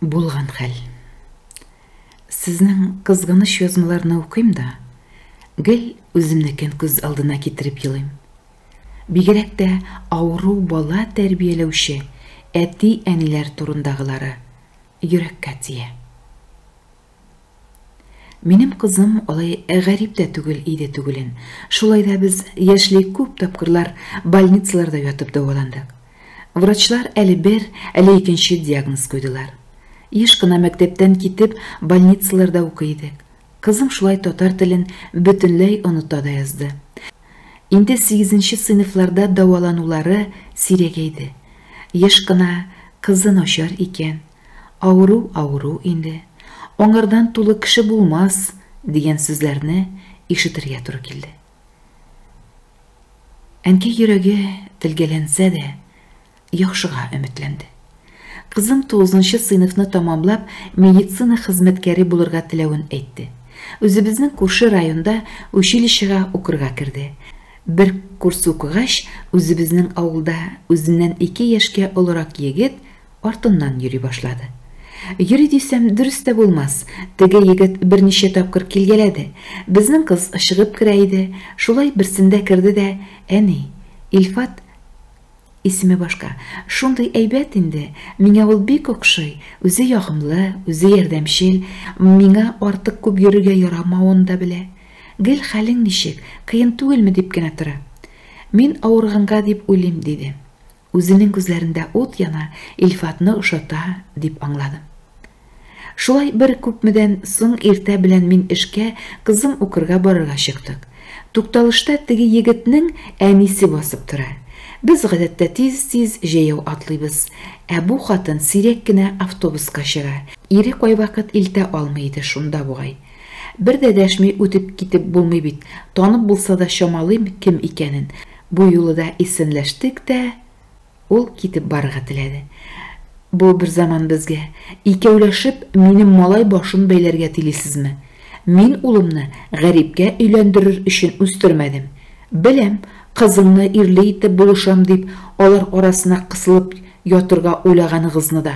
Булган хәл. Сезнең кызганыч язмаларны укыйм да, гел үземнекен күз алдына китереп елыйм. Бигрәк тә авыру бала тәрбияләүче әти-әниләр турындагылары йөрәккә тия. Минем кызым алай гарип тә түгел иде түгелен. Шулай да без яшьли күп тапкырлар больницаларда ятып дәваландык. Врачлар әле бер, әле икенче диагноз куйдылар. Еш кына мәктәптән китеп, больницаларда укый идек. Кызым шулай татар телен бөтенләй оныта да язды. Инде сигезенче сыйныфларда дәваланулары сирәгәйде. Еш кына, Кызы начар икән, Авыру авыру инде, аңардан тулы кеше булмас, дигән сүзләрне ишетергә туры килде. Әнкәй йөрәге телгәләнсә дә, яхшыга өметләнде. Кызым 9 сыйныфны тәмамлап, медицина хезмәткәре булырга теләвен әйтте. Үзебезнең күрше районда училищега укырга керде. Бер курс укыгач, үзебезнең авылда үзеннән ике яшькә олырак егет Артыннан йөри башлады. Йөри дисәм, дөрес тә булмас, теге егет берничә тапкыр килгәләде. Безнең кыз чыгып керә иде, шулай берсендә керде дә, Әни, Илфат, исеме башка, шундый әйбәт инде, миңа ул бик охшый, үзе ягымлы, үзе ярдәмчел, миңа артык күп йөрергә ярамавын да белә. Гел хәлең ничек, кыен түгелме дип кенә тора. Мин авырганга дип уйлыйм, диде. Үзенең күзләрендә ут яна, Илфатны ошата, дип аңладым. Шулай бер күпмедән соң иртә белән мин эшкә, кызым укырга барырга чыктык. Тукталышта теге егетнең әнисе басып тора. Без гадәттә тиз-тиз җәяү атлыйбыз, ә бу хатын сирәк кенә автобуска чыга, ире кайвакыт илтә алмый иде шунда бугай. Бер дә дәшми үтеп китеп булмый бит, танып булса да чамалыйм кем икәнен, Бу юлы да исәнләштек тә, ул китеп барырга теләде. Бу бер заман безгә, икәүләшеп, минем малай башын бәйләргә телисезме? Мин улымны гарипкә өйләндерер өчен үстермәдем. Беләм, кызыңны ирле итеп булышам дип, алар арасына кысылып ятырга уйлаганыгызны да.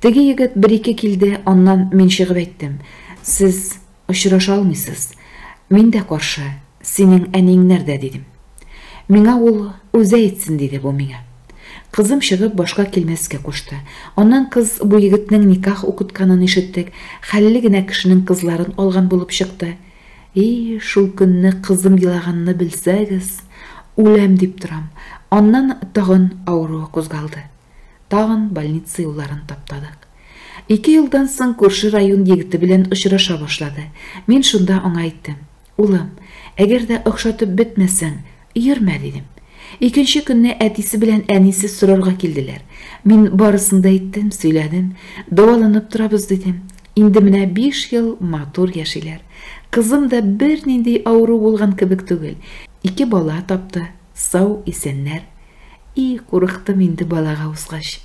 Теге егет бер-ике килде, аннан мин чыгып әйттем, Сез очраша алмыйсыз. Мин дә каршы, синең әниең нәрдә, дидем. Миңа ул үзе әйтсен, диде бу миңа. Кызым чыгып башка килмәскә кушты. Аннан кыз бу егетнең никах укытканын ишеттек, хәлле генә кешенең кызларын алган булып чыкты. И, шул көнне кызым елаганны белсәгез, үләм дип торам. Аннан тагын авыруы кузгалды. Тагын больница юлларын таптадык. Ике елдан соң күрше район егете белән очраша башлады. Мин шунда аңа әйттем. Улым, әгәр дә охшатып бетмәсәң, йөрмә, дидем. Икенче көнне әтисе белән әнисе сорарга килделәр. Мин барысын да әйттем, сөйләдем. Дәваланып торабыз, дидем. Инде менә биш ел матур яшиләр. Кызым да бернинди авыру булган кебек түгел. Ике бала тапты. Сау исәннәр. И, курыктым инде балага узгач.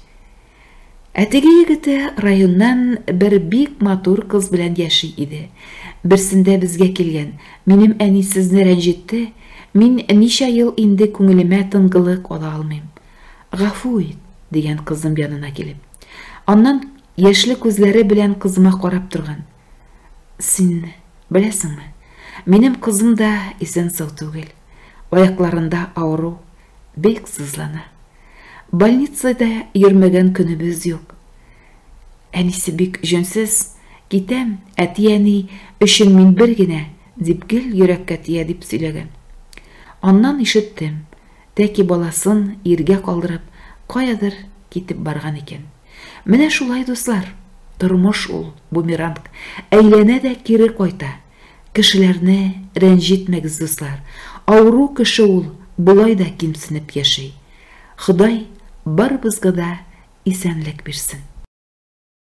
Ә теге егете районнан бер бик матур кыз белән яши иде. Берсендә безгә килгән, минем әни сезне рәнҗетте, мин ничә ел инде күңелемә тынгылык ала алмыйм. Гафу ит, дигән кызым янына килеп. Аннан яшьле күзләре белән кызыма карап торган. Син беләсеңме, минем кызым да исән-сау түгел. Аякларында авыру, бик сызлана. Больницада йөрмәгән көнебез юк. Әнисе бик җөнсез, китәм, әти-әни өчен мин бер генә, дип гел йөрәккә тия дип сөйләгән. Аннан ишеттем, тәки баласын иргә калдырып, каядыр китеп барган икән. Менә шулай, дуслар, тормыш ул, бумеранг, әйләнә дә кире кайта. Кешеләрне рәнҗетмәгез, дуслар, авыру кеше ул болай да кимсенеп яши. Ходай барыбызга да исәнлек бирсен.